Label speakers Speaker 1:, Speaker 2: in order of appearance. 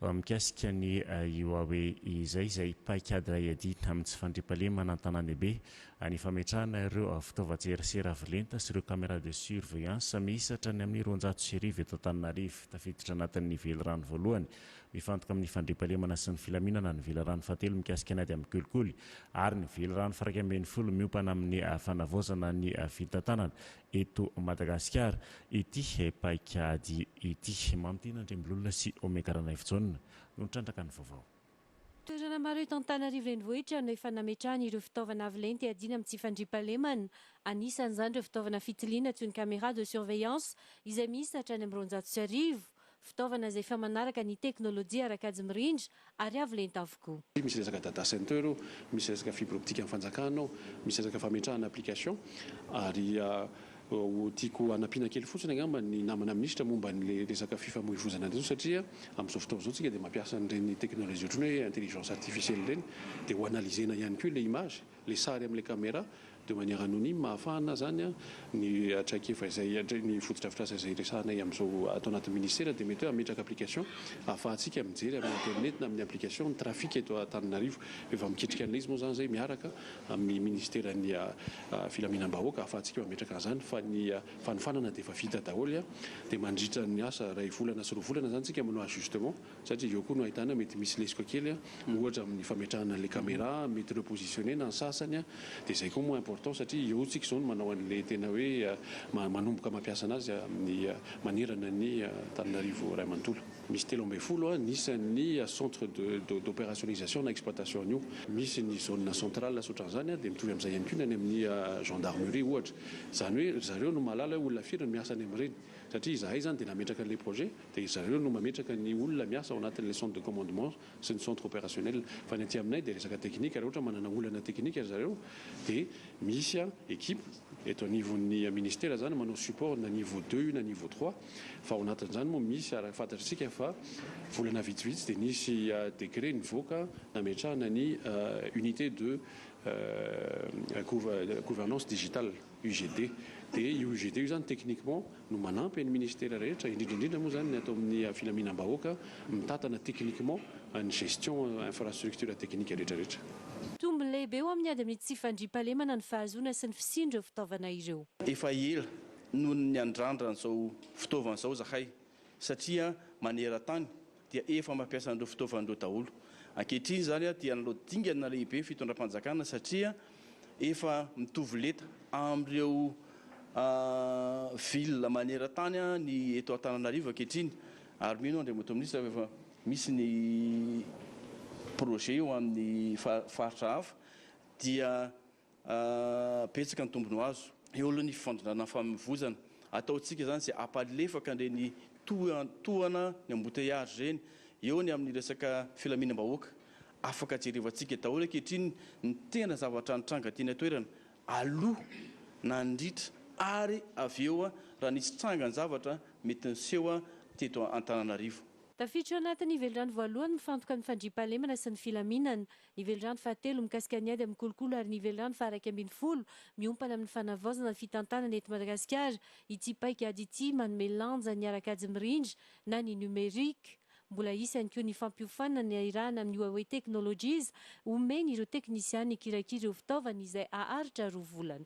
Speaker 1: Mikasika ny Huawei izay, izay paikady iray adidina amin'ny tsy fandriampahalemana an-tanàn-dehibe, ny fametrahana ireo fitaovan-tserasera avo lenta sy ireo caméras de surveillance miisa hatrany amin'ny roanjato sy arivo eto Antananarivo, tafiditra anatin'ny velirano voalohany mifantoka amin'ny fandriampahalemana sy ny filaminana, ny velirano fahatelo mikasika ny ady amin'ny kolikoly ary ny velirano firaika ambin'ny folo miompana amin'ny fanavaozana ny fitantanana. eto Madagasikara ity paikady ity. Mamintina Andriambilolona sy Omega Ranaivojaona no nitrandraka ny vaovao. Toerana
Speaker 2: maro eto Antananarivo Renivohitra no efa nametrahany ireo fitaovana avo lenta iadiana amin'ny tsy fandriampahalemana. Anisan'izany ireo fitaovana fitiliana antsoin'ny caméra de surveillance izay miisa hatrany amin'ny roanjato sy arivo. Fitaovana izay efa manaraka ny teknolojia ara-kajy mirindra ary avo lenta avokoa. Misy resaka data center
Speaker 3: ao, misy resaka fibre optique an'ny fanjakana ao, misy resaka fametrahana application ary ho tiako hanampiana kely fotsiny angamba ny namana minisitra momba an'ilay resaka fifamoivoizana an'ireny satria amin'izao fotoana izao isika dia mampiasa an'ireny teknolojia ohatran'ny hoe intelligence artificielle ireny dia ho analyser-na ihany koa ilay image, ilay sary amin'ilay camera De manière anonyme ahafahana zany ny traikefa izay ny fotodrafitrasa izay resahanay amin'izao ato anatin'ny ministera dia mety hoe hametraka application ahafahantsika mijery amin'ny internet na amin'ny application ny trafic eto Antananarivo fa efa mikitrika an'ilay izy moa zany zay miaraka amin'ny ministeran'ny filaminam-bahoaka ahafahantsika mametraka an'izany fa ny fanofanana dia efa vita daholo dia mandritra ny asa iray volana sy roa volana zany tsika manao ajustement Satria avy eo koa no ahitana mety misy lesoka kely ohatra amin'ny fametrahana an'ilay camera mety repositionner na ny sasany dia izay koa moa important satria eo tsika izao no manao an'ilay tena hoe manomboka mampiasa anazy amin'ny manerana ny Antananarivo iray manontolo. Misy telo ambin'ny folo ny isan'ny centre de d'operationnisation na exploitation an'io. Misy ny zone centrale asa ohatran'izany dia mitovy amin'izay ihany koa ny any amin'ny gendarmerie ohatra. Izany hoe ry zareo no mahalala hoe olona firy no miasa any amin'ireny satria izahay izany dia nametraka an'ilay projet. Dia zareo no mametraka ny olona miasa ao anatin'ilay centre de commandement sy ny centre opérationnel. Fa ny aty aminay dia resaka teknika, raha ohatra manana olana teknika ry zareo dia misy équipe eto anivon'ny ministera izany manao support na niveau deux io na niveau trois. Fa ao anatin'izany moa misy araka ny fantatr'isika fa volana vitsivitsy dia nisy décret nivoaka nametrahana ny unité de gouvernance digitale. UGD. Dia io UGD io izany techniquement no manampy an'ny ministera rehetra, indrindra indrindra moa izany ny ato amin'ny filaminam-bahoaka, mitantana techniquement ny gestion infrastructure technique rehetra rehetra. Tombony lehibe
Speaker 2: ho amin'ny ady amin'ny tsy fandriampahalemana ny fahazoana sy ny fisian'ireo fitaovana ireo. Efa ela
Speaker 4: noho ny niandrandran'izao fitaovana izao izahay satria maneran-tany dia efa mampiasa an'ireo fitaovan'ireo daholo. Ankehitriny izany dia nanao dingana lehibe ny fitondram-panjakana satria efa mitovy lenta amin'ireo ville maneran-tany ny eto Antananarivo ankehitriny ary mino aho Andriamatoa Minisitra fa efa misy ny projet ho amin'ny faritra hafa dia Betsaka ny tombony ho azo eo aloha ny fifandondrana nifamoivoizana. Ataontsika izany izay hampalefaka an'ireny tohatohana ny embouteillage ireny eo ny amin'ny resaka filaminam-bahoaka. Afaka jerevantsika daholo ankehitriny ny tena zavatra nitranga teny an-toerana aloha, nandritra ary avy eo raha nisy tranga ny zavatra mety niseho teto Antananarivo. Tafiditra ao anatin'ny
Speaker 2: velirano voalohany mifantoka ny fandriampahalemana sy ny filaminana. Ny velirano fahatelo mikasika ny ady amin'ny kolokolo ary ny velirano faharaika ambin'ny folo miompana amin'ny fanavaozana ny fitantanana eto Madagasikara. Ity paikady ity manome lanja ny ara-kajy mirindra na ny numérique. Mbola hisy ihany koa ny fampiofanana ny nahirahana amin'ny Huawei Technologies omeny ireo teknisiana hikirakira ireo fitaovana izay haharitra roa volana.